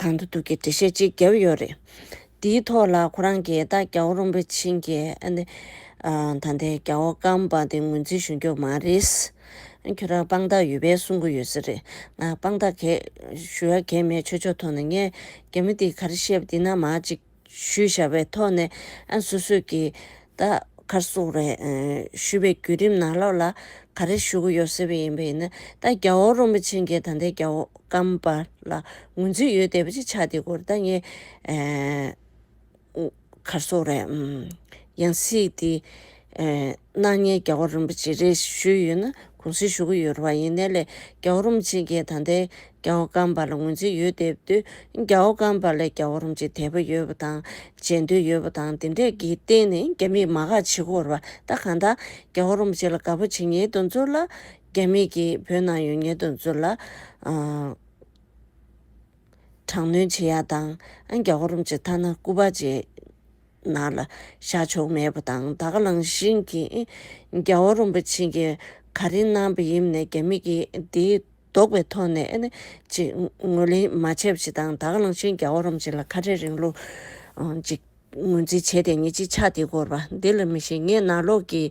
གང་དུ་འདུག་གི་འགྲེལ་བཤད་ཅིག་བརྒྱབ་ཡོད་རེད། འདིའི་ཐོག་ལ་ཁོ་རང་གིས་ད་རྒྱ་བོ་རོན་པོ་ཆེན་གྱི་ད་ལྟའི་རྒྱ་བོ་སྐམ་པ་དེ་ངོས་འཛིན་ཞུ་འགྱོ་མ་རེད། ཁྱོད་རང་དཔང་རྟགས་ཡོད་པས་གསུང་གི་ཡོད་ས་རེད། ང་དཔང་རྟགས་གས་ཞུ་ཡ་གས་མེད་ཆོས་ཕྱོགས་ཐོག་ན་ངས་རྒྱ་མི་དེ་གར་བཤད་པ་དེ་ན་མ་གཅིག། ཞུས་བྱ་བའི་ཐོག་ནས་ཨ་སོ་སོས་ཀྱི་ད་གར་སོག་རེ་ཞུས་པའི་བརྒྱུད་རིམ་ནང་ལོག་ལ་ག་རེ་ཞུ་གི་ཡོད་ཟེར་བའི་ཡིན་པ་ཡིན་ན་ད་རྒྱ་བོ་རོན་པོ་ཆེ་འགས་ད་ལྟའི་རྒྱ་བོ་སྐམ་པ་ལ་ངོས་འཛིན་ཡོད་བསྡད་པ་ཅིག་ཆགས་འདི་སྐོར་ད་ངས་གར་སོག་རེ་ཡང་སྲིད་དེ། སྣང་བརྙན་རྒྱལ་བ་རིན་པོ་ཆེ་རེ་ཞུས་ཡོད་ན་གུང་གསེང་ཞུ་གི་ཡོད་རེད་བ་ཡིན་ནའི་ལས་རྒྱལ་བ་རིན་པོ་ཆེ་མཁྱེན་ད་ལྟའི་རྒྱལ་བ་སྒམ་པ་ལ་ངོས་འཛིན་ཡོད་དེ་བསྡུ་རྒྱལ་བ་སྒམ་པ་ལས་རྒྱལ་བ་རིན་པོ་ཆེ་དད་པ་ཡོད་བ་དང་མཇལ་འདོད་ཡོད་བ་དང་དེ་འདྲས་ཀྱི་སྟེང་ནས་རྒྱ་མིས་མ་དགག་བྱེད་ཁོར་བ་ད་གང་ད་རྒྱལ་བ་རིན་པོ་ཆེ་ལ་དགག་པ་བྱེད་ཉེས་དོན་ཚོར་ལ་རྒྱ་མིས་ཀྱིས་བོད་ནང་ཡོད་ཉེས་དོན་ཚོར་ལ། དྲག་གནོན་བྱེད་ཡག་དང་རྒྱ་གོ་རུམ་བྱེད་ཐ་ན་སྐུ་པར་བྱེད་ན་ལ་བཞག་ཆོག་མེད་པ་དང་ད་ག་ལང་བཞིན་གྱི་རྒྱ་གོ་རུམ་པ་བྱིན་གྱིས་ག་རིང་གནང་བ་ཡིན་ནས་རྒྱ་མི་གིས་དེའི་ལྡོག་པའི་ཐོག་ནས་ཅིག་ངོས་ལེན་མ་བྱས་པ་ཞིག་དང་ད་ག་ལང་བཞིན་རྒྱ་གོ་རུམ་བྱེད་ལ་ཁ་བྲལ་རིང་ལུགས་ཅིག་ངོས་འཛིན་བྱས་ཏེ་ཉིན་གཅིག་ཆགས་འདི་སྐོར་བ་འདི་ལ་མི་ཤེས་ངས་ནག་ལོག་གི་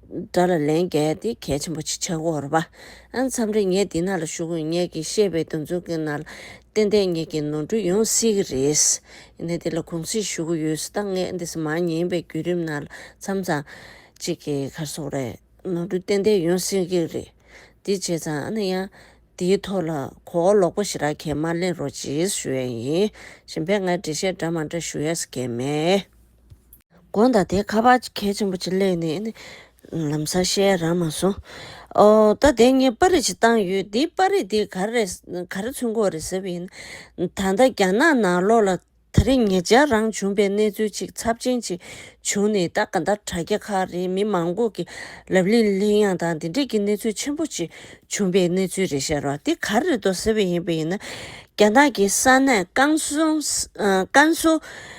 སྒྲ་ལ་ལན་བརྒྱད་དེ་གལ་ཆེན་པོ་ཆེ་ཆགས་འོག་རོ། མཚམས་རེ་ངས་འདི་ན་ལ་ཞུགས་དགོས་ངས་ཀྱི་ཤེས་པའི་འདུ་འཛོམས་ཀྱི་ན་ལ་ཏན་ཏན་ངས་ཀྱི་ནོར་འཁྲུལ་ཡོང་སྲིད་ཀྱི་རེད། ཡིན་ན་འདི་ལ་གུང་སེང་ཞུ་གི་ཡོད་ས་ད་ངས་འདི་ས་མ་ཉན་པའི་བརྒྱུད་རིམ་ན་ལ་མཚམས་ཚང་གཅིག་གི་གར་སོང་རེད། ནོར་འཁྲུལ་ཏན་ཏན་ཡོང་སྲིད་ཀྱི་རེད། འདི་བྱས་ཙང་ཨ་ན་ཡང་འདིའི་ཐོག་ལ་གོ་བ་ལོག་པོ་ཞིག་རག་གེ་མ་གླེང་རོགས་རྗེས་སུ་ཞུ་ཡས་ཡིན། གཞན་པའི་ང་འབྲེལ་བཤད་འདྲ་མ་འདྲ་ཞུ་ཡས་ས་གེ་མེད། དགོན་དང་དེའི་ཁ་པར་གྱི་གལ་ཆེན་པོ་གཅིག་ལས་ནི། ལམ་སར་བཤད་ར་མ་སོང། ད་ལྟའི་ངས་དཔར་རིས་ཤིག་བཏང་ཡོད། འདིའི་དཔར་རིས་དེ་ག་རེ་ཚུན་གོ་རེད་ཟེར་བ་ཡིན། ད་ལྟ་རྒྱ་ནག་ནང་ལོགས་ལ་ད་རེས་ངེད་ཅག་རང་བྱུང་པའི་གནས་ཚུལ་གཅིག་ཚབས་ཆེན་ཅིག་བྱུང་ནས་ད་ག་ད་དྲ་རྒྱ་ཁག་རེད་མི་མང་པོ་གི་ལབ་གླེང་གླེང་ཡང་དང་དེ་འདྲས་ཀྱི་གནས་ཚུལ་ཆེན་པོ་ཅིག་བྱུང་པའི་གནས་ཚུལ་རེད་ཤར་བ་དེ་ག་རེ་རེད་དོ་ཟེར་བ་ཡིན་པ་ཡིན་ན། རྒྱ་ནག་གི་ས་གནས་ཀན་སུའུ།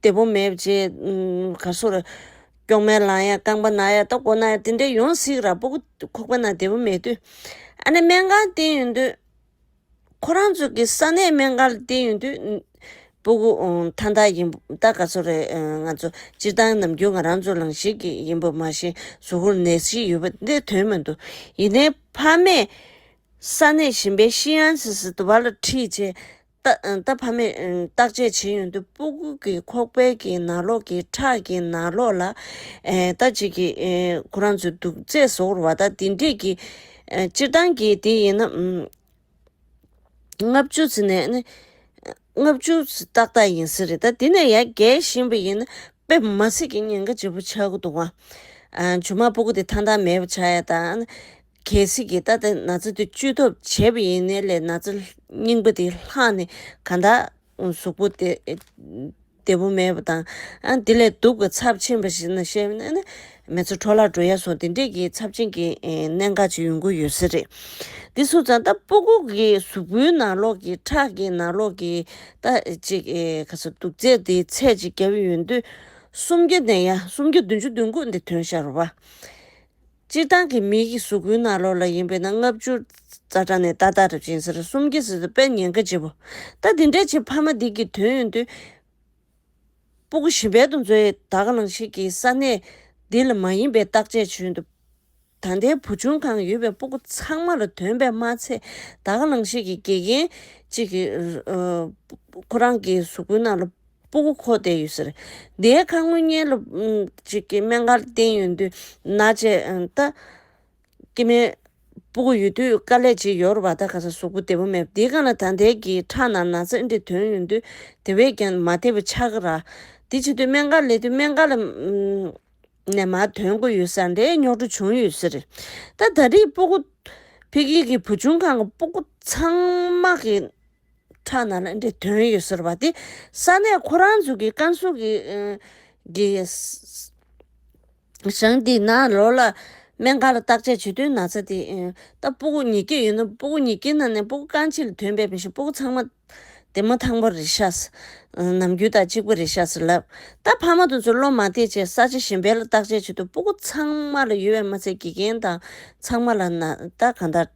བདེ་པོ་མེད་ཅེས། གར་སོགས་ར། སྐྱོགས་མའི་ལང་ཡང་རྐང་པ་ན་ཡང་སྟོབས་གོ་ན་ཡང་དེ་འདྲས་ཡོངས་གཟིགས་ར་སྤོ་གུ། ཁོག་པ་ན་བདེ་པོ་མེད་དུས། ཨ་ནེ་སྨན་ཁང་བསྟེན་ཡོད་དུས། ཁོ་རང་ཚོ་གི་ས་ནས་སྨན་ཁང་ལ་བསྟེན་ཡོད་དུས། སྤོ་གུ། ཐ་མཐའ་ཡིན། ད་ག་ཚོད་རེད། ང་ཚོ་སྤྱིར་བཏང་ནམ་རྒྱུན་ང་རང་ཚོ་ལང་ཞིག་གི་ཡིན་པ་མ་གཞི་ཟུག་གུར་ནད་གཞི་ཡོད་པ་འདི་དོན་མི་འདུག་ཡིན་ནའི་ཕ་མས། ས་ནས་བཞིན་པའི་ཤི་ཡང་སིས་དུ་བ་ལ་ཁྲིད་བྱེད། རྟ་ཕ་མས་བརྟག་དཔྱད་བྱེད་ཡུན་དུ་སྤུ་སྐུད་ཀྱི་ཁོག་པའི་གྱི་ན་ལོག་གི་ཁྲག་གི་ན་ལོག་ལ། རྟ་གཅིག་གིས་ཁོ་རང་ཚོའི་དུག་རྫས་བཟོ་བར་བ་ད་དེ་འདྲས་ཀྱི། སྤྱིར་བཏང་གི་དེ་ཡིན་ན། ལྔ་བཅུ་ཚི་ནས་ནི། ལྔ་བཅུ་ཚི་ཏག་ཏག་ཡིན་ས་རེད་ད་དེ་ནས་ཡར་རྒས་བཞིན་པ་ཡིན་ན་དཔེ་མ་ཚིག་གི་ཉེན་ཁ་ལྗིད་པོ་ཆགས་ཀྱི་འདུག་བ། ཇོ་མ་སྤུ་སྐུད་དེ་ཐང་ཐང་མེད་པ་ཆགས་ཡ་ད། གལ་སྲིད་ཀྱི་ད་དེ་ན་ཚ་དེ་བཅུས་ཐོབ་བྱས་པ་ཡིན་ནའི་ལས་ན་ཚ་རྙིང་པ་དེ་ལྷག་ནས་ག་འདའ། གཟུགས་པོ་དེ་བདེ་པོ་མེད་པ་དང། དེ་ལས་སྡུག་གི་ཚབས་ཆེན་པ་ཞིག་ན་ཤེས་ན་ནི། མེ་ཚོ་འཕྲོ་བརླག་འགྲོ་ཡ་སོགས་དེ་འདྲས་ཀྱི་ཚབས་ཆེན་གྱི་གནད་འགག་ཅིག་ཡོང་གི་ཡོད་ས་རེད། འདི་སུ་ཙང་ད་པུ་གུ་གི་གཟུགས་པོའི་ནང་ལོགས་ཀྱི་ཁྲག་གི་ནང་ལོགས་ཀྱི་ད་ཅིག་ག་སོ་དུག་རྫས་དེའི་ཚད་ཅིག་བརྒྱབ་ཡོད་དུས། སུམ་བརྒྱ་ནས་ཡ་སུམ་བརྒྱ་བདུན་ཅུ་བདུན་དགུ་འདི་དོན་ཤར་བ། སྤྱིར་བཏང་གི་མིའི་གི་གཟུགས་སྐུའི་ནག་ལོགས་ལ་ཡིན་པས་ན་ལྔ་བཅུ། རྩ་དྲ་ནས་རྟ་དར་སྦྱིན་སར་གསུམ་སྐྱེ་སྲིད་དུ་པད་ཉན་ཁ་བྱེད་པོ། ད་འདི་འདྲའི་བྱེད་ཕ་མ་འདི་གི་དོན་ཡོན་ཏུ། སྤུ་གུ་ཞི་བལ་དུ་མཛོད་ཡེ་དག་ལང་ཤིག་གི་ས་གནས། འདི་ལ་མ་ཡིན་པའི་བརྟག་དཔྱད་བྱོས་འདུག། ད་ལྟའི་བུ་ཆུང་གང་ཡོད་པའི་སྤུ་གུ་ཚང་མ་ལ་དོན་པད་མ་ཚེ་དག་ལང་ཤིག་གི་དགེ་རྒན། གཅིག་གིས། ཁོ་རང་གི་གཟུགས་སྐུའི་ནག་ལོགས། སྤུ་གུ་འཁོར་བསྡད་ཡོད་ཟེར། དེའི་ཁར་དངུལ་བསྙལ་ལོ། ཅིག་གི་སྨན་ཁར་བསྟན་ཡོད་འདུག་ན་བྱས། ད། སྐྱེ་མེད། སྤུ་གུ་ཡོད་དུས་དཀའ་ལས་ཅིག་ཡོར་བ་ད་ག་ས་ཟོག་པོ་བདེ་བོ་མེད་དེ་ག་ན་ད་འདས་ཀྱི་ཁྲག་ན་ན་ཚ་འདི་དོན་ཡོད་འདུག་དེ་བས་ཀྱང་མ་བདེ་བའི་ཆག་ར། དེ་བྱེད་དུས་སྨན་ཁར་ལས་དུས་སྨན་ཁ་ལ། ནས་མ་དོན་དགོས་ཡོད་ས་འདྲའི་རྙོག་དྲ་བྱུང་ཡོད་ཟེར། ད་ད་རིགས་སྤུ་གུ། ཕི་གིའི་བུ་ཆུང་ཁང་གི་སྤུ་གུ་ཚང་མ་གི། ཁྲག་ནང་ལ་འདི་དོན་ཡོད་ཟེར་བ་དེ་ས་གནས་ཁོ་རང་ཚོ་གི་བཀའ་ཟུར་གི་གི་ཞང་དེ་ན་ལོ་ལ་སྨན་ཁང་ལ་བརྟག་དཔྱད་བྱེད་དུས་ན་ཚ་དེ་ད་སྤུ་གུ་ཉིས་བརྒྱད་ཡོད་ན་སྤུ་གུ་ཉིས་བརྒྱད་ནང་ནས་སྤུ་གུ་རྐང་གཅིག་ལ་དོན་བས་མི་ཤེས་སྤུ་གུ་ཚང་མ་དེ་མོ་ཐང་པོ་རེད་ཤགས་སེ། ནམ་རྒྱུན་དག་གཅིག་པོ་རེད་ཤགས་སེ་ལབ། ད་ཕ་མ་དང་ཚུར་སློབ་མ་དེ་བཅས་ས་ཆ་གཞན་པའི་ལ་བརྟག་དཔྱད་བྱེད་དུས་སྤུ་གུ་ཚང་མ་ལ་ཡོད་བས་མ་ཚད་དགེ་རྒན་དང་ཚང་མ་ལ་ན་ད་གང་ལྟར།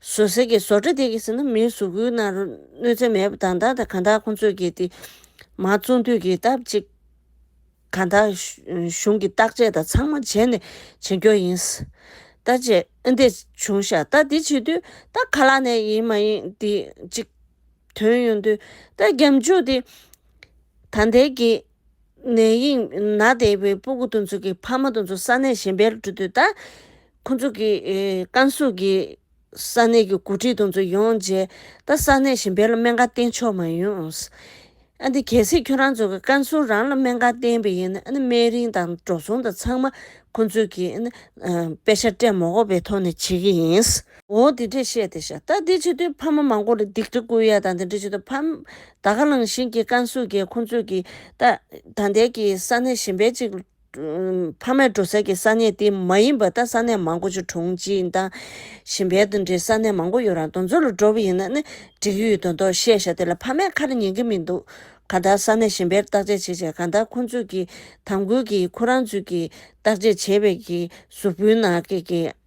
བཟོ་གསེར་གྱི་བཟོ་གྲྭ་དེ་གའི་ཟེར་ན་མིའི་གཟུགས་སྐུའི་ནང་རུ་གནོད་འཚེ་མེད་པ་དང་ད་ལྟ་གང་དག་ཁོང་ཚོས་ཀྱིས་དེ་མ་བཙོང་དུས་ཀྱི་སྟབས་ཅིག་གང་དག་གཞུང་གི་བརྟག་དཔྱད་དང་ཚང་མ་བྱས་ནས་བྱེད་མགྱོགས་ཡིན། ད་ཅེ་འདི་བྱུང་ཤག་ད་འདི་བྱེད་དུས་ད་ག་ལ་ནས་ཡིན་མ་ཡིན་འདི་ཅིག་དོན་ཡོང་དུས་ད་རྒྱབ་འཇུག་འདི་ད་འདས་ཀྱི། ནས་དབྱིངས་ན་བསྡད་པའི་སྤུ་གུ་དུ་ཚོད་ཀྱི་ཕ་མ་དུ་ཚོད་ས་གནས་གཞན་པའི་གྲུ་དུ་ད། ཁོ་ཚོ་གི་ཀན་སུའུ་གི་ས་གནས་ཀྱི་འགོ་ཁྲིད་དུ་ཚོད་ཡོང་རྗེས་ད་ས་གནས་གཞན་པའི་ལ་སྨན་ཁང་བསྟེན་ཆོག་མ་ཡོང། ཨ་ཏི་གལ་སྲིད་ཁྱོད་རང་ཚོ་གི་ཀན་སུའུ་རང་ལ་སྨན་ཁང་བསྟེན་པ་ཡིན་ན་སྨན་རིན་དང་འགྲོ་སོང་དང་ཚང་མ་ཁོ་ཚོས་ཀྱིས་དཔེ་ཆ་སྤྲད་མོགོ་པའི་ཐོག་ནས་བྱེད་ཀྱི་ཡིན། འོ་དེ་འདྲས་བཤད་དེ་ཤ་སྟག་འདི་ཆེ་དུས་ཕ་མ་མང་པོ་ལ་སྡིག་སྒྲིབ་ཀུན་ཡལ་དང་དེ་འདྲས་བྱེད་དུ་ཕམ། ད་ག་ལང་གཞིན་གྱིས་བཀང་གཟུགས་ཀྱིས་ཁོང་ཚོས་ཀྱི། ད་ལྟའི་གི་ས་གནས་གཞན་པའི་ཅིག། ཕ་མས་འགྲོ་ས་ཀྱི་ས་གནས་དེ་མ་ཡིན་པ་ད་ས་གནས་མང་པོ་ཆུ་གྲོང་གཅིག་དང། གཞན་པའི་དེ་འདྲས་ས་གནས་མང་པོ་ཡོད་རང་དང་ཚུར་ལ་འགྲོ་བ་ཡིན་ན་ནི་འགྲིག་གི་ཡོད་དོ་དོ་བཤད་ཤ་དེ་ལ་ཕ་མས་ཁ་ར་ཉན་གི་མི་འདུག་ག་ད་ས་གནས་གཞན་པའི་བརྟག་དཔྱད་བྱེད་ཆེད་ག་ད་ཁོང་ཚོས་ཀྱི་དམ་འགུལ་གྱིས་ཁོ་རང་ཚོས་ཀྱི་བརྟག་དཔྱད་བྱེད་པའི་གི་གཟུགས་པོའི་ནང་གི་གི།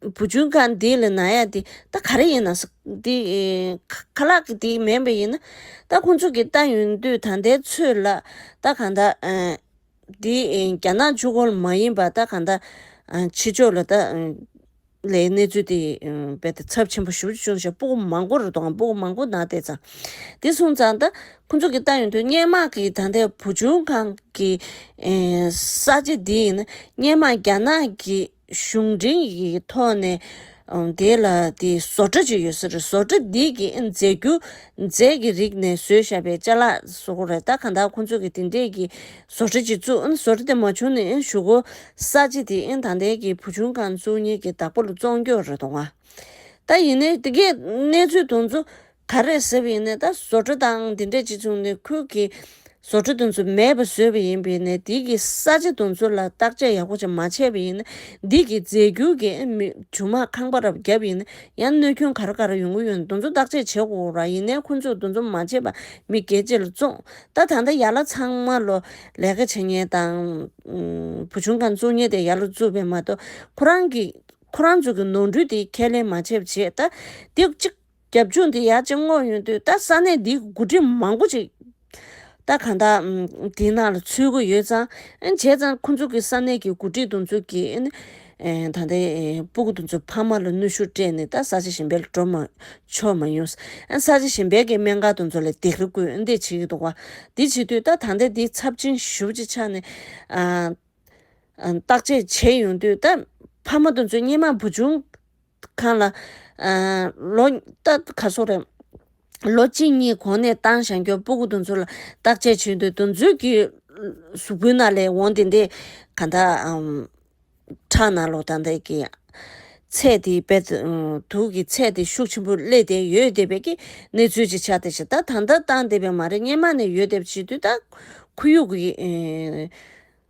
བུ་ཆུང་ག་འདི་ལ་ན་ཡ་འདི་ད་ག་རེ་ཡིན་ན་ཟེར། འདི་ཁ་ལག་གི་འདི་མེད་པ་ཡིན་ན། ད་ཁོང་ཚོ་གི་ལྟ་ཡོང་དུས་ད་ལྟའི་ཚོད་ལ་ད་གང་ད། འདི་རྒྱ་ནག་ཆུ་ཁོལ་མ་ཡིན་པ་ད་གང་ད། ཕྱི་ཕྱོགས་ལ་ད། ལའི་གནས་ཚུལ་དེ་རྦད་དེ་ཚབས་ཆེན་པོ་ཞུ་རྒྱུ་བྱུང་ཞེས་སྤུ་གུ་མང་པོ་རུ་དང་སྤུ་གུ་མང་པོ་ནང་བསྡད་ཙང། འདི་སོང་ཙང་ད་ཁོང་ཚོ་གི་ལྟ་ཡོང་དུས་སྙན་མག་གི་ད་ལྟའི་བུ་ཆུང་ག་གི། ས་ཆ་འདི་ཡིན་ན་སྙན་མག་རྒྱ་ནག་གི། གཞུང་འབྲེལ་གྱི་ཐོག་ནས་དེ་ལ་བཟོ་གྲྭ་གཅིག་ཡོད་ཟེར་བཟོ་གྲྭ་འདི་གི་མཛད་རྒྱུ་མཛད་ཀྱི་རིགས་ནས་བཟོས་ཞབས་པའི་བཅའ་ལག་བཟོ་གོ་རེད་ད་གང་དག་ཁོང་ཚོ་གི་དེ་འདྲས་ཀྱི་བཟོ་གྲྭ་གཅིག་བཙུགས་བཟོ་གྲྭ་དེ་མ་བྱུང་ནས་ཞུ་གོ་ས་ཅི་དེ་ད་ལྟའི་གི་བུ་ཆུང་ཁང་བཙུགས་ཉེས་ཀྱི་བདག་པོ་ལ་བཙོང་རྒྱུ་རེད་དོ་ང་ད་ཡིན་ནའི་དེ་གའི་གནས་ཚུལ་དང་ཚོ་ད་རེས་ཟེར་བའི་ནད་ལྟ་བཟོ་གྲྭ་དང་དེ་འདྲས་ཅི་བྱུང་ནས་ཁུལ་གྱི་བཟོ་གྲྭ་དུ་ཚོད་མེད་པ་བཟོས་པ་ཡིན་པས་ནད་འདི་གི་ས་ཆ་དུ་ཚོད་ལ་བརྟག་དཔྱད་ཡག་པོ་ཅིག་མ་བྱས་པ་ཡིན་ན་འདི་གི་རྫས་འགྱུར་གྱི་ཇུ་མ་ཁང་པ་རབ་བརྒྱབ་ཡིན་ན་ཡང་གནོད་སྐྱོན་ག་རེ་ག་རེ་ཡོང་གི་ཡོད་འདུག་ཚོད་བརྟག་དཔྱད་བྱེད་དགོས་ར་ཡིན་ནའི་ཁོ་ཚོས་འདུ་འཛོམས་མ་བྱས་པ་མི་དགེ་བཅས་ལ་བཙོང་ད་ད་ལྟ་ཡར་ལ་ཚང་མ་ལོ་ལས་ཀ་བྱེད་ཉེན་དང་བུ་ཆུང་ཁང་བཙུགས་ཉེན་དེ་ཡར་ལ་བཙུགས་པས་མ་གཏོགས་ཁོ་རང་གི་ཁོ་རང་ཚོ་གི་ནོར་འཁྲུལ་དེ་ཁས་ལེན་མ་བྱས་པ་བྱས་ད་འདི་གཅིག། རྒྱབ་ལྗོངས་འདི་ཡར་རྒྱས་མངོན་ཡོང་དུས་ད་ས་གནས་འདིའི་དགུ་སྒྲིམ་མང་པོ་ཅིག་ད་གང་དག་དེ་ནང་ལ་ཚུད་དགོས་ཡོད་ཙང་བྱས་ཙང་ཁོང་ཚོ་གི་ས་གནས་ཀྱི་དགུ་སྒྲིག་དུ་འཛུལ་གྱིས་ད་ལྟ་སྤུ་གུ་དུ་ཚོ་ཕ་མ་ལ་གནོད་ཤུགས་སྤྲད་ནས་ད་ས་ཆ་ཞན་པའི་ལ་འགྲོ་མ་ཆོག་མ་ཡོང་ས་ཆ་ཞན་པའི་གི་སྨན་ཁང་དུ་ཚོ་ལ་རྡེག་རི་སྐུལ་འདེད་བྱེད་ཀྱི་འདུག་བ་འདི་བྱེད་དུས་ད་ད་ལྟ་འདི་ཚབས་ཆེན་ཞུ་ཅིག་ཆགས་ནས་བརྟག་དཔྱད་བྱས་ཡོང་དུས་ད་ཕ་མ་དུ་ཚོ་སྙེ་མ་བུ་ཆུང་ཁང་ལ། ལོ། རྟགས་ག་སོགས་རེད། ལོ་གཅིག་གཉིས་གོང་ནས་ཏང་ཞང་གྱོན་པོ་གུ་དོན་ཚུལ་ལ་བརྟག་དཔྱད་བྱེད་འདོད་དོན་ཚུལ་གྱི། གཟུགས་པོའི་ནང་ལས་འོང་དེ་འདི། གང་དག། ཁྲག་ནང་ལོག་དང་འདི་གི། ཚད་དེ་བེད། དུག་གི་ཚད་དེ་ཤུགས་ཆེན་པོ་སླེ་བསྡད་ཡོད་བསྡད་པའི་གི་གནས་ཚུལ་ཅིག་ཆགས་བསྡད་ཤིག་ད་ད་ལྟ་བཏང་བསྡད་པའི་མ་རེད་སྙེ་མ་ནས་ཡོད་བསྡད་བྱེད་དུས་ད། ཁུ་ཡུག་གི།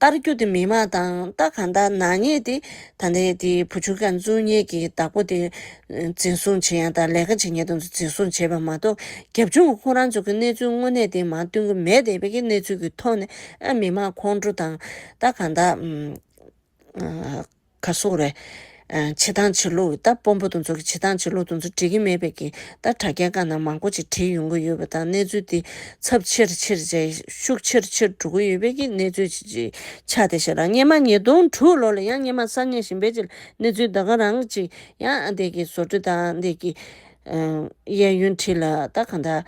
བསྟར་རྒྱུ་དེ་མི་མང་དང་ལྟ་གང་ལྟར་ནག་ཉེས་དེ་ད་ལྟའི་དེ་བུ་ཆུང་ཁ་མཆུ་གཉིས་ཀྱི་བདག་པོ་དེ་འཛིན་བཟུང་བྱེད་ཡང་དང་ལས་ཀ་བྱེད་ཉེས་དོན་དུ་འཛིན་བཟུང་བྱེད་པ་མ་གཏོགས་རྒྱབ་ལྗོངས་ཁོང་རང་ཚོ་གི་གནས་ཚུལ་དངོས་གནས་དེ་མང་སྟོན་གྱི་མེད་དེ་བས་ཀྱི་གནས་ཚུལ་གྱི་ཐོག་ནས་མི་མང་ཁོང་ཁྲོ་དང་ལྟ་གང་ལྟར། ག་སོགས་རེད། བྱེ་ཐང་བྱེ་ལུག་གི་རྟ་སྤོམ་པོ་དེ་ཚོ་གི་བྱེ་ཐང་བྱེ་ལུག་དེ་ཚོ་འབྲི་གི་མེད་པས་ཀྱིས་རྟ་དྲ་རྒྱའི་སྒང་ན་མང་པོ་ཅིག་བྲིས་ཡོང་གི་ཡོད་པ་དང་གནས་ཚུལ་དེ་ཚབས་ཆེར་ཆེར་ཆེ་ཤུགས་ཆེར་ཆེར་འགྲོ་གི་ཡོད་པས་ཀྱིས་གནས་ཚུལ་ཅིག་ཆགས་ཏེ་ཞེ་རག་སྙེ་མ་ཉིས་སྟོང་དྲུག་ལོ་ལ་ཡང་སྙེ་མ་གསར་རྙེད་བཞིན་པའི་ཆེད་གནས་ཚུལ་ད་ག་རང་ཅིག་ཡང་འདས་ཀྱིས་བཟོ་བཀྲོལ་དང་འདས་ཀྱིས་གཡས་གཡོན་བྲིས་ལ་ད་ག་འདྲ།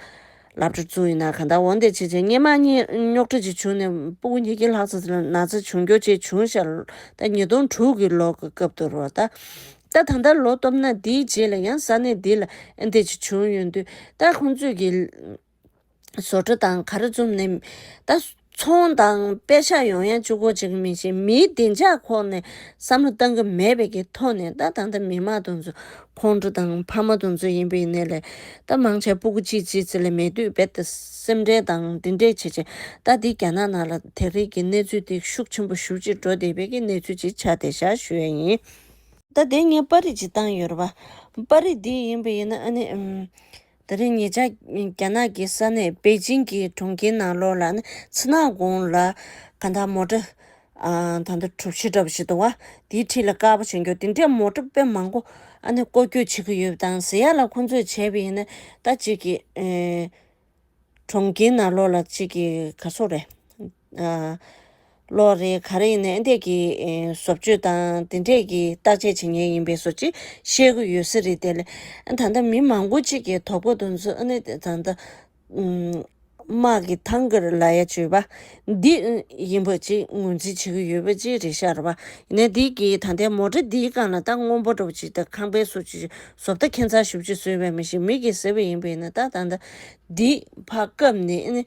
ལབ་འགྲོ་བཅུག་ཡིན་ན་གང་ལྟར་འོང་བསྡད་བྱས་བྱས་སྙེ་མ་གཉིས་རྙོག་དྲ་གཅིག་བྱུང་ནས་སྤུ་གུ་ཉིས་ཀྱི་ལྷག་ཙ་ཙི་ན་ཙི་བྱུང་འགྱོ་བྱེད་བྱུང་ཤར་ལྟ་ཉིས་སྟོང་དྲུག་གི་ལོ་གི་སྐབས་དུ་རོ། ལྟ་ད་ལྟར་ལོ་སྟོབས་ན་དེའི་རྗེས་ལ་ཡང་ས་གནས་འདི་ལ་འདེད་ཅིག་བྱུང་ཡོད་འདུག་ལྟ་ཁོང་ཚོས་ཀྱི། བཟོ་གྲ་དང་ག་རེ་བཙུམ་ནས་ལྟ། ཚོང་དང་དཔེ་ཆ་ཡོང་ཡ་བཅུག་གོ་ཅིག་མི་བྱེད་མིའི་བདེ་འཇགས་ཁོག་ནས་བསམ་བློ་གཏང་གི་མེད་པའི་གི་ཐོག་ནས་ད་ད་ད་མི་མ་དུང་ཚོ་ཁོང་ཁྲོ་དང་ཕ་མ་དུང་ཚོ་ཡིན་པའི་གནས་ལས་ད་མང་ཆ་སྤུ་གུ་ཅིག་ཅིག་ཚེ་ལས་མེད་དུས་རྦད་དེ་སེམས་འཁྲལ་དང་འདི་འདྲས་བྱེད་བྱེད་ད་འདི་རྒྱ་ནག་ནང་ལ་དེ་རིགས་ཀྱི་གནས་ཚུལ་དེ་ཤུགས་ཆེན་པོ་ཞུ་ཅིག་འགྲོ་བསྡད་པའི་གི་གནས་ཚུལ་ཅིག་ཆ་དེ་ཤར་ཞུ་ཡ་ཡིན། ད་དེ་ངས་པར་རིས་ཅིག་བཏང་ཡོད་རེད་པ། པར་རིས་འདི་ཡིན་པ་ཡིན་ན་ཨ་ནི། ད་རེས་ཉེ་ཆར་རྒྱ་ནག་གི་ས་གནས་པེ་ཅིང་གི་གྲོང་ཁྱེར་ནང་ལོགས་ལ་ཚི་ནག་དགོང་ལ་ག་འདྲ་མོ་འདྲ། ད་འདྲ་གྲུབ་ཕྱི་འདྲ་པོ་ཞིག་འདུག་བ་དེའི་འཁྲིས་ལ་དཀར་པོ་བྱེད་འགྱུར་དེ་འདྲའི་མོ་འདྲ་དཔེ་མང་པོ་ཨ་ནེ་བཀོལ་སྐྱོད་བྱེད་ཀྱི་ཡོད་དང་ཟེར་ཡག་ལ་ཁོང་ཚོས་བྱས་པ་ཡིན་ན་ད་གཅིག་གི་གྲོང་ཁྱེར་ནང་ལོགས་ལ་གཅིག་གི་ག་སོགས་རེད། ལོ་རེ་ག་རེ་ཡིན་ནའི་འདས་ཀྱི་བཟོ་བཅོས་དང་དེ་འབྲེལ་གྱི་བརྟག་དཔྱད་བྱེད་མཁན་ཡིན་པའི་བཟོ་བྱེད་ཤེས་གི་ཡོད་ས་རེད་དེ། ད་ལྟ་མི་མང་པོ་གཅིག་གིས་དོག་པོ་འདུག་མཚོན་ནི་ད་ལྟ། དམག་གི་ཐང་གར་ལ་ཡ་བྱུས་པ། འདི་ཡིན་པ་གཅིག་ངོས་འཛིན་བྱེད་ཀྱི་ཡོད་པ་གཅིག་རེད་ཤར་བ། ཡིན་ནའི་འདས་ཀྱི་ད་ལྟའི་མོ་ཏྲ་འདིའི་སྒང་ལ་རྟ་སྔོན་པོ་འགྲོ་བ་ཅིག་དང་ཁང་པའི་བཟོ་བཅོས་ཀྱི་བཟོ་བལྟ་མཁན་ཚགས་ཤུབ་ཅིག་བཟོས་པའི་མི་ཞིག་མིག་གིས་གཟིགས་པ་ཡིན་པས་ན་ད་ལྟ། འདི་ཕ་སྐབས་ནས།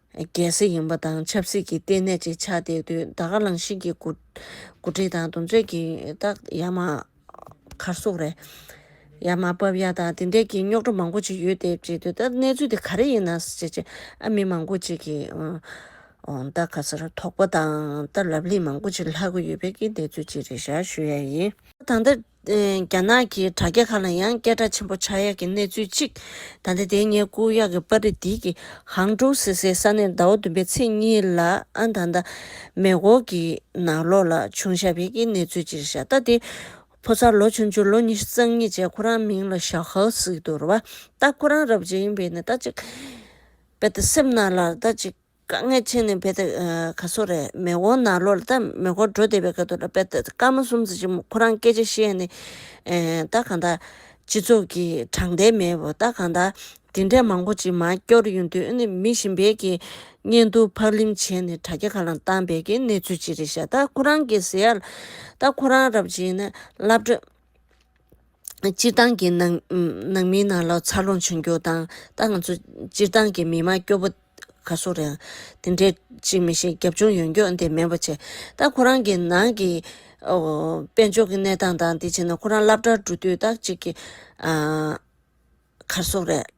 རྒྱལ་སྲིད་ཡངས་པ་དང་ཆབ་སྲིད་ཀྱི་ལྟེ་གནས་གཅིག་ཆགས་བསྡད་དུས་ད་ག་རང་བཞིན་གྱི་འགོ་ཁྲིད་དང་འདུ་འཛོད་ཀྱི་རྟགས་ཡ་མ་གར་སོགས་རེད། ཡ་མ་བབས་ཡ་དང་དེ་འདྲས་ཀྱི་རྙོག་དྲ་མང་པོ་ཅིག་ཡོད་བསྡད་ཅེས་དུས་ད་གནས་ཚུལ་དེ་ག་རེ་ཡིན་ནམ་ཞེས་ཅེས་ཨ་མི་མང་པོ་ཅིག་གིས་ད་ག་སར་དོགས་པ་དང་ད་ལབ་གླེང་མང་པོ་ཅིག་ལྷག་གི་ཡོད་པའི་གནས་ཚུལ་ཅིག་རེད་ཞར་ཞུ་ཡ་ཡིན། ད་ལྟ། རྒྱ་ནག་གི་དྲ་རྒྱ་ཁག་ལ་ཡང་སྐད་གྲགས་ཆེན་པོ་ཆགས་ཡག་གི་གནས་ཚུལ་གཅིག་ད་ལྟ་དེ་ངའི་སྐུ་གཡག་གི་པར་རིས་འདི་གི་ཧང་ཀྲོའུ་སི་སའི་ས་གནས་ཟླ་བ་བདུན་པའི་ཚེས་གཉིས་ལ་ཨན་ཐང་ད་མེ་གོ་གི་ནང་ལོགས་ལ་བྱུང་ཞབས་ཡིག་གི་གནས་ཚུལ་གཅིག་རེད་ཤ་སྟག་དེ་ཕོ་གསར་ལོ་ཆུང་ཆུང་ལོ་ཉི་ཤུ་རྩ་གཉིས་བཅས་ཁོ་རང་མིང་ལ་ཞའོ་ཧའོ་ཟིག་འདུག་རེད་བ་ད་ཁོ་རང་རབ་བྱེད་ཡིན་པས་ནི་ད་ཅིག་པད་ད་སེམས་ན་ལར་ད་ཅིག། དཀའ་ངལ་ཆེ་ནི་བེད་ག་སོ་རེད་མེ་འོ་ན་ལོ་ལྟ་མེ་འཁོར་འགྲོ་བསྡད་པའི་ག་ཏུ་ལ་བེད་སྐར་མ་གསུམ་ཙི་ཅི་མོ་ཁོ་རང་སྐད་ཆ་བཤད་ནི་ད་གང་ད། སྤྱི་ཚོགས་ཀྱི་དྲང་བདེན་མེད་བོ་ད་གང་ད། དེ་འདྲས་མང་པོ་ཅི་མ་སྐྱོར་ཡོང་དུས་ཨ་ནི་མི་ཞིན་བེད་ཀྱི་བརྙན་ཐུང་ཕག་ལིམ་བྱས་ནི་དྲ་རྒྱ་ག་ལ་བཏང་བེད་ཀྱི་གནས་ཚུལ་ཅི་རེད་ཤ་ད་ཁོ་རང་གི་ཟེར་ཡ་ལ་ད་ཁོ་རང་རབ་བྱེད་ནི་ལབ་འགྲོ། སྤྱིར་བཏང་གི་ནང་མི་ནང་ལོགས་འཚར་ལོངས་བྱུང་རྒྱུ་དང་ད་ང་ཚོ་སྤྱིར་བཏང་གི་མི་དམངས་སྐྱོ་པོ་ག་སུ་རེད་དེ་འདྲའི་ཅིག་མི་ཤེས་རྒྱབ་ཆུང་ཡོང་རྒྱུ་དེ་མེད་པོ་ཆེ་ད་ཁོ་རང་གི་ནང་གི་དཔལ་འབྱོར་གྱི་གནས་སྟངས་དང་དེ་བྱས་ན་ཁོ་རང་སླབ་གྲར་འགྲོ་དུས་ད་ཅིག་གི་ག་སུ་རེད།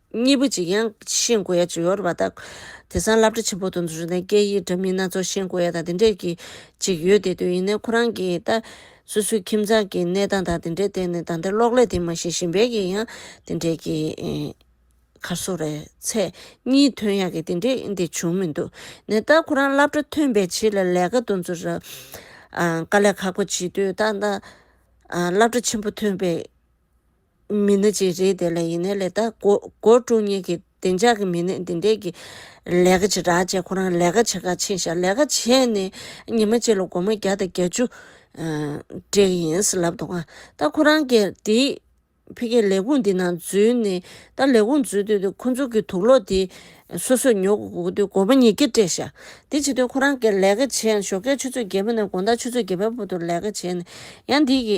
གཉིས་པོ་གཅིག་ཡང་ཤེས་དགོས་ཡ་ཅི་ཡོར་བ་དག། དེ་སང་བསླབ་གྲ་ཆེན་པོ་དུ་འདུག་ན་སྐད་ཡིག་འདྲ་མིན་སྣ་ཚོགས་ཤེས་དགོས་ཡ་དང་དེ་འདྲས་ཀྱི་ཅིག་ཡོད་དེ་དུས་ཡིན་ནའི་ཁོ་རང་གི་ལྟ། སོ་སོའི་ཁྱིམ་ཚང་གི་གནས་སྟངས་དང་དེ་འདྲའི་སྟེང་ནས་ད་ལྟ་གློག་ཀླད་དེ་མ་ཤེས་ཤིང་བལ་གྱི་ཡང་དེ་འདྲས་ཀྱི། ཁར་སོ་རེད་ཚད་གཉིས་ཐོན་ཡག་གི་དེ་འདྲས་དེ་བྱུང་མི་འདུག་ནའི་ལྟ་ཁོ་རང་བསླབ་གྲ་ཐོན་བས་ཆེས་ལ་ལས་ཀ་དུ་འཛུར། དཀའ་ལས་ཁག་པོ་བྱེད་དུས་ལྟ། བསླབ་གྲ་ཆེན་པོ་ཐོན་བས། མི་སྣ་གཅིག་རེད་དེ་ལ་ཡིན་ནའི་ལས་ད་སྒོར་དཀྲུག་ཉེན་གི་བདེ་འཇགས་གི་མི་སྣས་འདི་འད་གི་ལས་ཀ་བྱེད་དྲག་བྱས་ཁོ་རང་ལས་ཀ་བྱེད་ཁ་ཕྱིན་ཤག་ལས་ཀ་བྱས་ནས་ཉི་མ་གཅིག་ལ་སྒོར་མོ་བརྒྱ་དང་གྱ་བཅུ་སྤྲད་གི་ཡིན་ཟེར་ལབ་འདུག་ད་ཁོ་རང་གི་དེ་ཕི་ཀའི་ལས་ཁུངས་འདི་ནང་འཛུལ་ནས་ད་ལས་ཁུངས་འཛུལ་དུས་དེ་ཁོ་ཚོ་གི་དུག་ལོག་དེ་སོ་སོས་ཉོ་གི་གོ་དུས་སྒོར་མོ་ཉིས་བརྒྱ་སྤྲད་ཤག་དེ་བྱེད་དུས་ཁོ་རང་གི་ལས་ཀ་བྱས་ཡང་ཞོགས་ཀའི་ཆུ་ཚོད་བརྒྱད་པོ་ནས་དགོང་དག་ཆུ་ཚོད་བརྒྱད་པའི་བར་དུ་ལས་ཀ་བྱས་ནས་ཡང་འདི་གི་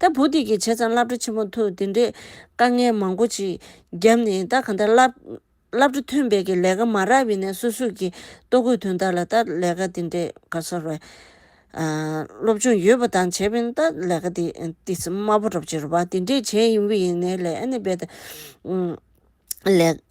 ད་བུ་འདི་གིས་བྱས་ཙང་བླ་བྲོ་ཆེན་པོ་འཐུག་འདི་འདྲས་དཀའ་ངལ་མང་པོ་ཅིག་བརྒྱབ་ནས་ད་གང་ལྟར་བླ་བྲོ་ཐོན་འབད་ཀྱི་ལས་ཀ་མ་རག་བས་ནས་སོ་སོས་ཀྱི་ལྟོ་གོས་དོན་དག་ལ་ད་ལས་ཀ་འདི་འདྲས་ག་ས་རེད། སློབ་སྦྱོང་ཡོད་པ་དང་བྱས་པས་ན་ད་ལས་ཀ་འདི་འདྲས་དམའ་པོ་རབ་བྱེད་རུ་བ་འདི་འདྲས་བྱས་ཡིན་བས་ནས་ལས་ཨ་ནི་འབད། ལས།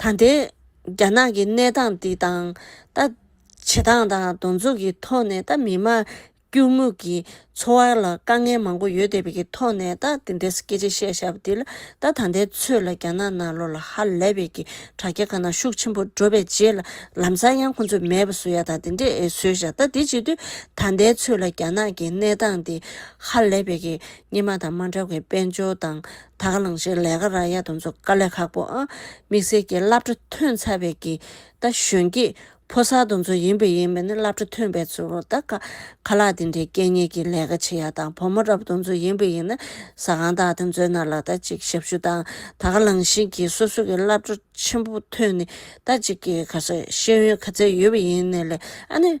ད་ལྟའི་རྒྱ་ནག་གི་གནས་སྟངས་འདི་དང། ད་བྱེད་སྟངས་དང་གདོང་ཚུགས་ཀྱི་ཐོག་ནས་ད་མི་དམངས་སྐྱུར་མོ་གི་འཚོ་བ་ལ་དཀའ་ངལ་མང་པོ་ཡོད་བསྡད་པའི་གི་ཐོག་ནས་ད་འདི་འདྲའི་སྐད་ཆ་བཤད་བཞག་པ་འདི་ལ་ད་ད་ལྟའི་ཚོད་ལ་རྒྱ་ནག་ནང་ལོགས་ལ་ཧ་ལས་པའི་གི་དྲ་རྒྱ་ག་ན་ཤུགས་ཆེན་པོ་འགྲོ་པའི་རྗེས་ལ་ལམ་སང་ཡང་ཁོང་ཚོས་མེད་པ་བཟོ་ཡག་དང་འདི་འདྲས་བཟོས་བཞག་ད་འདི་བྱེད་དུས་ད་ལྟའི་ཚོད་ལ་རྒྱ་ནག་གི་གནས་སྟངས་འདི་ཧ་ལས་པའི་གི་སྙེ་མ་དང་མ་འདྲ་བའི་དཔལ་འབྱོར་དང། ད་ག་ལང་ཕྱིར་ལས་ཀ་ར་ཡ་དང་ཚོ་དཀའ་ལས་ཁག་པོ། དམིགས་བསལ་གྱི་བླ་བྲེ་ཐོན་ཚར་བའི་གི་ད་གཞོན་སྐྱེས་ཕོ་གསར་དང་ཚོ་ཡིན་པ་ཡིན་པ་ནི་བླ་བྲེ་ཐོན་པའི་ཚོ་རུ་ད་ག་ཁ་ལག་དེ་འདྲའི་སྐད་གཉེར་གྱི་ལས་ཀ་བྱེད་ཡ་དང་བུ་མོ་ར་བུ་དང་ཚོ་ཡིན་པ་ཡིན་ན་ཟ་ཁང་དག་དང་ཚོའི་ནང་ལ་ད་ཅིག་ཞབས་ཞུ་དང་ད་ག་ལང་བཞིན་གྱི་སོ་སོ་གི་བླ་བྲེ་ཆེན་པོ་ཐོན་ནི་ད་ཅིག་གི་ག་ས་ཤེས་ཡོན་ག་ཚད་ཡོད་པ་ཡིན་ནི་ལས་ཨ་ནི་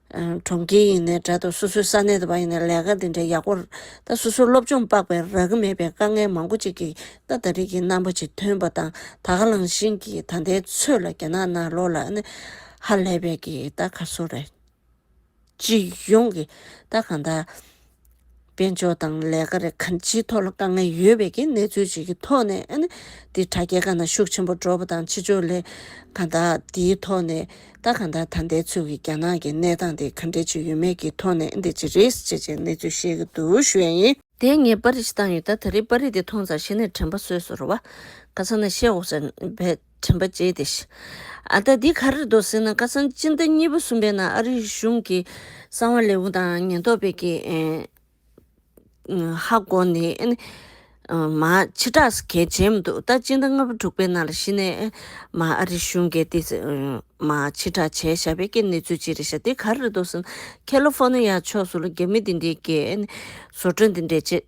གྲོང་ཁྱེར་ཡིན་ནའི་དགྲ་དང་སོ་སོའི་ས་གནས་དུ་བ་ཡིན་ནའི་ལས་ཀ་འདི་འདྲའི་ཡག་པོ་ད་སོ་སོའི་སློབ་སྦྱོང་དཔག་པའི་རག་གི་མེད་པའི་དཀའ་ངལ་མང་པོ་ཅིག་གིས་ད་ད་རིགས་ཀྱི་རྣམ་པ་ཅིག་ཐོན་པ་དང་ད་ག་ལང་བཞིན་གྱི་ད་ལྟའི་ཚོད་ལ་རྒྱ་ནག་ནང་ལོག་ལ་ནི་ཧ་ལས་པའི་གི་ད་ག་སོ་རེད། སྤྱི་ཡོངས་ཀྱི་ད་གང་ད། དཔལ་འབྱོར་དང་ལས་ཀ་རེ་ཁཱན་ཅིའི་ཐོག་ལ་དཀའ་ངལ་ཡོད་པའི་གནས་ཚུལ་ཅིག་གི་ཐོག་ནས་ཨ་ནི་དེ་དྲ་རྒྱའི་ཁ་ན་ཤུགས་ཆེན་པོ་འགྲོ་བ་དང་ཕྱི་ཕྱོགས་ལས་ཀ་དག་དེའི་ཐོག་ནས་ད་ག་ད་ད་འདས་ཚོད་ཀྱི་རྒྱ་ནག་གི་གནས་སྟངས་དེ་ག་འདྲས་ཅིག་ཡོད་མེད་ཀྱི་ཐོག་ནས་འདི་ཅི་རེད་ཅེས་ཅེས་གནས་ཚུལ་བཤད་ཀྱི་འདུག་ཞུ་ཡ་ཡིན། དེ་ངས་པར་རིས་བཏང་ཡོད་ད་ད་རེས་པར་རིས་དེ་མཐོང་ཙང་གཞི་ནས་དྲན་པ་སོས་སོ་རེད་བ། ག་ཚང་ནས་བཤད་འོག་ཙམ་བས། དྲན་པ་བཅས་ཏེ། ཨ་ད་འདི་ག་རེ་འདོགས་ཟེར་ན་ཁ་སང་སྤྱི་ཟླ་གཉིས་པ་གསུམ་པའི་ནང་ཨ་རིའི་གཞུང་གི་གསང་བ་ལེའུ་དང་ཉེན་རྟོག་པའི་ཀྱི་ཧ་གོ་ནི་མ་ཕྱི་དྲག་ས་གལ་ཆེན་མི་འདུག་ད་སྤྱི་ཟླ་ལྔ་པ་དྲུག་པའི་ནང་ལ་གཞི་ནས་མ་ཨ་རི་གཞུང་གིས་འདི་མ་ཕྱི་དྲག་བྱས་ཞག་པའི་ཀྱི་གནས་ཚུལ་ཅི་རེད་ཤག་འདི་ག་རེ་འདོགས་ཟེར་ན་ཁེ་ལོ་ཧྥོ་ནི་ཡ་ཕྱོགས་སུ་ལ་རྒྱ་མི་འདི་འདྲའི་ཀྱི་བཟོ་སྐྲུན་འདི་འདྲའི་བྱེད་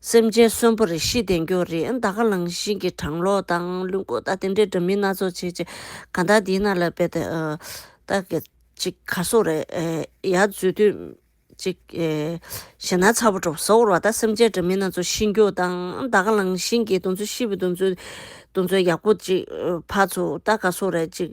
སེམས་ཅན་གསོན་པོ་རེ་ཤི་བདེ་འགྱོ་རེ་ད་ག་ལང་ཤིང་གི་གྲང་ལོག་དང་ལུས་འགོ་ད་དེ་འདྲའི་འདྲ་མིན་སྣ་ཚོགས་བྱེད་ཅེས་གང་དག་འདི་ན་ལ་བེད་ད་གི་ཅིག་ག་སོག་རེ་ཡ་རྫུས་དུས་ཅིག་ཞེ་ན་ཚ་བོ་གྲོ་བོ་ཟོག་རོ་བ་ད་སེམས་ཅན་འདྲ་མིན་སྣ་ཚོགས་ཤི་འགྱོ་དང་ད་ག་ལང་ཤིང་གི་དུང་ཚོད་ཤི་བོ་དུང་ཚོད་དུང་ཚོད་ཡག་པོ་ཅིག་ཕ་ཚོ་ད་ག་སོག་རེ་ཅིག་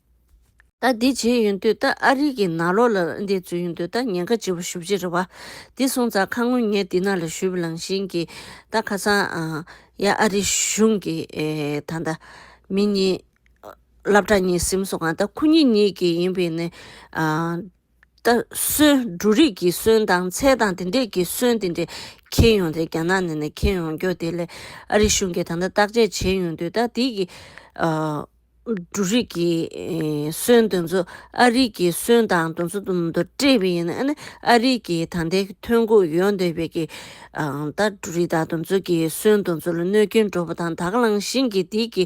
ད་འདི་བྱེད་ཡོན་དུས་ད་ཨ་རིག་གི་ནག་ལོག་ལ་འདི་བཙུད་ཡོན་དུས་ད་ཉེན་ཁ་ལྕི་བ་ཞུ་བྱེད་རེད་བ། འདི་སོང་ཙང་ཁ་ངོ་ངས་འདི་ནག་ལ་ཞུ་བི་ལང་བཞིན་གི་ད་ཁ་སང་ཡ་ཨ་རིག་གཞུང་གི་ད་ད་མི་གཉིས་བླ་བྲག་གཉིས་སིམ་སོང་ག་ད་ཁུ་གཉིས་གཉིས་གི་ཡིན་བི་ནི། ལྟ། སོན་འབྲུ་རིགས་ཀྱི་སོན་དང་ཚལ་དང་དེ་འདྲས་ཀྱི་སོན་དེ་འདྲས་ཁྱེར་ཡོང་སྟེ་རྒྱ་ནག་ནས་ནས་ཁྱེར་ཡོང་རྒྱུ་དེ་ལས་ཨ་རི་གཞུང་གིས་ད་ལྟ་བརྟག་དཔྱད་བྱས་ཡོང་དུས་ད་ཐིག་གི་འབྲུ་རིགས་ཀྱི་སོན་དེ་ཚོ་ཨ་རི་ཀྱི་སོན་དང་དུ་ཚོ་དུ་སྤྲད་པས་ཡིན་ཨ་ནི་ཨ་རི་ཀྱི་ད་ལྟའི་ཐོན་ཁུངས་ཡོད་འདོད་པས་ཀྱི་ད་འབྲུ་རིགས་དང་དུ་ཚོ་ཀྱི་སོན་དུ་ཚོ་ལ་གནོད་སྐྱོན་འགྲོ་བ་དང་དག་བླངས་བཞིན་གྱི་ཐིག་གི་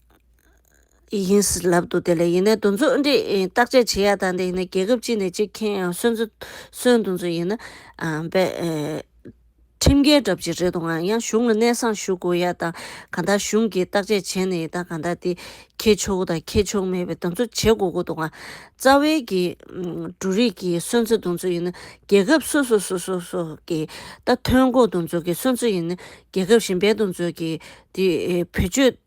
ཡིན། ལབ་འདུག་དེ་ལས་ཡིན་ནའི་དུ་འཛུགས་འདི་བརྟག་དཔྱད་བྱེད་ཡག་དང་དེ་ཡིན་ནའི་རྒྱལ་ཁབ་གཅིག་ནས་གཅིག་ཁེངས་ཡང་སོན་རྩི་སོན་དུ་འཛུགས་ཡིན་ན། ཁྲིམས་འགལ་གྲབས་ཅིག་རེད་འདུག་ང་ཡང་གཞུང་ལ་གནས་སངས་ཞུ་དགོས་ཡག་དང་གང་དག་གཞུང་གིས་བརྟག་དཔྱད་བྱེད་ནས་ཡིན་དང་གང་དག་དེ་ཁེ་ཆོག་དང་ཁེ་ཆོག་མེད་པའི་དུ་འཛུགས་བྱེད་དགོས་ཀྱི་འདུག་ང་རྩ་བའི་གི་འབྲུ་རིགས་ཀྱི་སོན་རྩི་དུ་འཛུགས་ཡིན་ན་རྒྱལ་ཁབ་སོ་སོ་སོ་སོ་སོ་གི་ད་ཐོན་ཁོག་དུ་འཛུགས་ཀྱི་སོན་རྩི་ཡིན་ན་རྒྱལ་ཁབ་གཞན་པའི་དུ་འཛུགས་ཀྱི་དེ་བེད་སྤྱོད།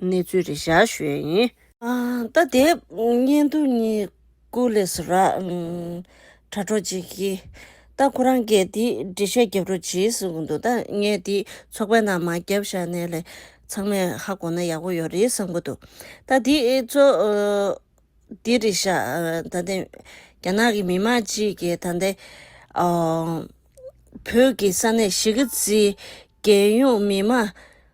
གནས་ཚུལ་རེ་བཞག་ཞོད་ཡིན། ད་དེབ་སྙན་ཐུང་གཉིས་ཀུ་ལེ་སུ་ར། དྲ་གྲོགས་གཅིག་གིས། ད་ཁོ་རང་སྐད་འདི་འབྲི་བཤད་བརྒྱབ་རོགས་གྱིས་ཟེར་གི་འདུག་ད་ངས་འདི་ཚོགས་པའི་ནང་མ་བརྒྱབ་བཞག་ནས་ལས་ཚང་མས་ཧ་གོ་ན་ཡག་པོ་ཡོད་རེད་བསམ་གི་འདུག་ད་འདི་ཚོ། འདི་རེ་བཞག་ད་ལྟའི་རྒྱ་ནག་གི་མི་མང་གཅིག་གིས་ད་ལྟའི། བོད་ཀྱི་ས་གནས་གཞིས་ཀ་རྩེའི་རྒྱལ་ཡོངས་མི་མང།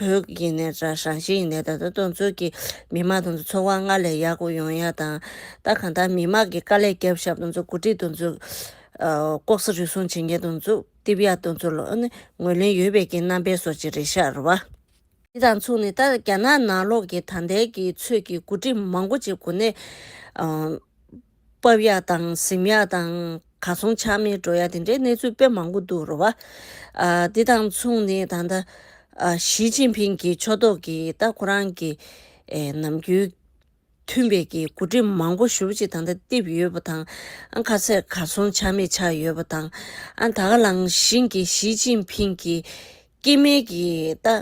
བོད་ཀྱི་ནས་ར་ཧྲང་ཞི་ཡི་ནས་ད་ལྟ་གྲོང་ཚོ་གི་མི་དམངས་དང་འཚོ་བ་སྔར་ལས་ཡག་པོ་ཡོང་ཡག་དང་ད་གང་ལྟར་མི་དམངས་ཀྱི་དཀའ་ལས་རྒྱབ་ཤབ་དང་འཚོ་གོ་སྒྲིག་དང་འཚོ་ལྐོག་ས་རུལ་སུང་བྱེད་མཁན་དང་འཚོ་རྟིབ་ཡག་དང་འཚོ་ལོ་ངོས་ལེན་ཡོད་པའི་ཀྱི་རྣམ་པའི་སོ་ཅི་རེ་ཤར་བ། དེ་དང་མཚུངས་ནས་ད་རྒྱ་ནག་ནང་ལོག་གི་ད་ལྟའི་གི་ཚོད་ཀྱི་གོ་སྒྲིག་མང་པོ་ཅིག་གོ་ནས་སྤབས་ཡག་དང་གཟིམ་ཡག་དང་ག་ཚོང་ཆག་མེད་འགྲོ་ཡག་དེ་འདྲའི་གནས་ཚུལ་དཔེ་མང་པོ་འདུག་རོ་བ། འདི་དང་མཚུངས་ནི་ད་ལྟ་ཞིས་ཅིན་ཕིང་གིས་ཕྱོགས་གཏོགས་ཀྱིས་ད་ཁོ་རང་གི་ནམ་རྒྱུན་མཐུན་པའི་གི་འགོ་ཁྲིད་མང་པོ་ཞུ་བ་ཅིག་ད་ལྟ་བཏིབས་ཡོད་པ་དང་ཁ་ཚད་ག་ཚོང་ཆག་མེད་ཆག་ཡོད་པ་དང། ད་ག་ལང་བཞིན་གྱི་ཞིས་ཅིན་ཕིང་གིས་སྐྱེས་དམན་གྱི་ད།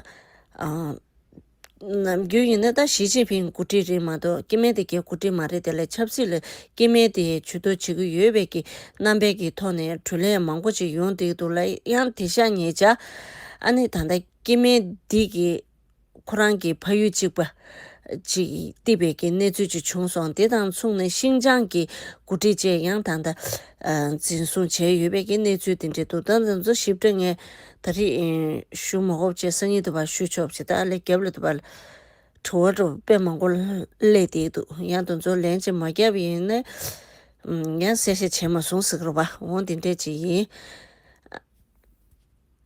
ནམ་རྒྱུན་ཡིན་ན་ད་ཞི་ཅིན་ཕིན་མགོ་ཁྲིད་རེད་མ་གཏོགས་སྐྱེ་དམན་སྡེ་དགེ་མགོ་ཁྲིད་མ་རེད་དེ་ལས་ཆབ་སྲིད་ལ་སྐྱེ་དམན་སྡེ་ཡས་ཇུས་གཏོགས་བྱེད་ཀྱི་ཡོད་བས་ཀྱི་རྣམ་པས་ཀྱི་ཐོག་ནས་དྲུ་ལན་མང་པོ་ཅིག་ཡོང་སྡིག་འདུག་ལ་ཡང་དེ་ཤ་ཉེས་བྱ་ཨ་ནི་ད་ལྟ་སྐྱེ་དམན་སྡེ་གི་ཁོ་རང་གི་ཕ་ཡུལ་གཅིག་པ་ཅིག་གཏིབ་པའི་ཀྱི་གནས་ཚུལ་ཅིག་བྱུང་སོང་དེ་དང་མཚུངས་ནས་ཤིང་ཅང་གི་མགོ་ཁྲིད་བཅས་ཡང་ད་ལྟ་འཛིན་བཟུང་བྱས་ཡོད་བས་ཀྱི་གནས་ཚུལ་དེ་འདྲས་འདུག་ད་ང་ཚོ་ཞིབ་ཕྲ་ངས་ད་རེས་ཞུ་མ་གོ་བྱས་སང་ཉིན་དུ་བ་ཞུ་ཆོག་བྱས་ད་ལས་རྒྱབ་ལ་དུ་བ་དྲི་བ་དྲོ་དཔེ་མང་པོ་གླས་འདེགས་འདུག་ཡང་དུ་འཛོ་ལན་ཅིག་མ་རྒྱབ་ཡིན་ན་ཡང་གསལ་བཤད་བྱས་མ་སོང་ཟིག་རོ་བ་འོང་འདི་འདྲས་ཅིག་ཡིན།